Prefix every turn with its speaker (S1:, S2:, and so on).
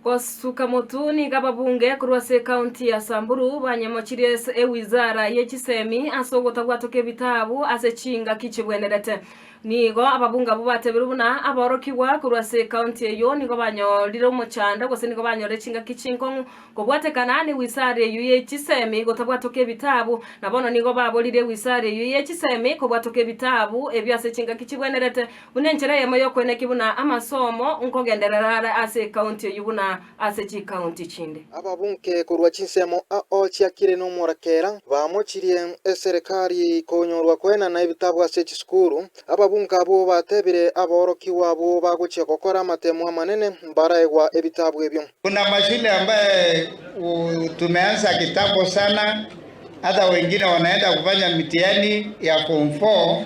S1: Gosuka motu nigo ababunge korwa ase ekaunti ya Samburu banyemochirie ase ewizara ye chisemi ase ogotagwatwa kw'ebitabu ase chingaki chigwenerete. Nigo ababunge abwo batebiru buna aborokigwa korwa ase ekaunti eyio nigo banyorire omochando gose nigo banyorire chingaki chinkong'u kobwatekana n'ewizara eyio ye chisemi gotagwatwa kw'ebitabu, na bono nigo baborire ewizara eyio ye chisemi kobwatwa kw'ebitabu ebio ase chingaki chigwenerete. Buna enchera eyemo y'okoinakia buna amasomo, nkogenderera are ase ekaunti eyio buna ase chikaunti chinde. Ababunke korwa
S2: chinsemo ao chiakire n'omorekera bamochirie eserekari konyorwa kwena na ebitabu ase chisukuru. Ababunke abwo batebire aborokigwa abwo bagochia gokora amatemo amanene mbaraegwa ebitabu ebio. Kuna mashule
S3: ambayo tumeanza kitambo sana hata wengine wanaenda kufanya mtihani ya form four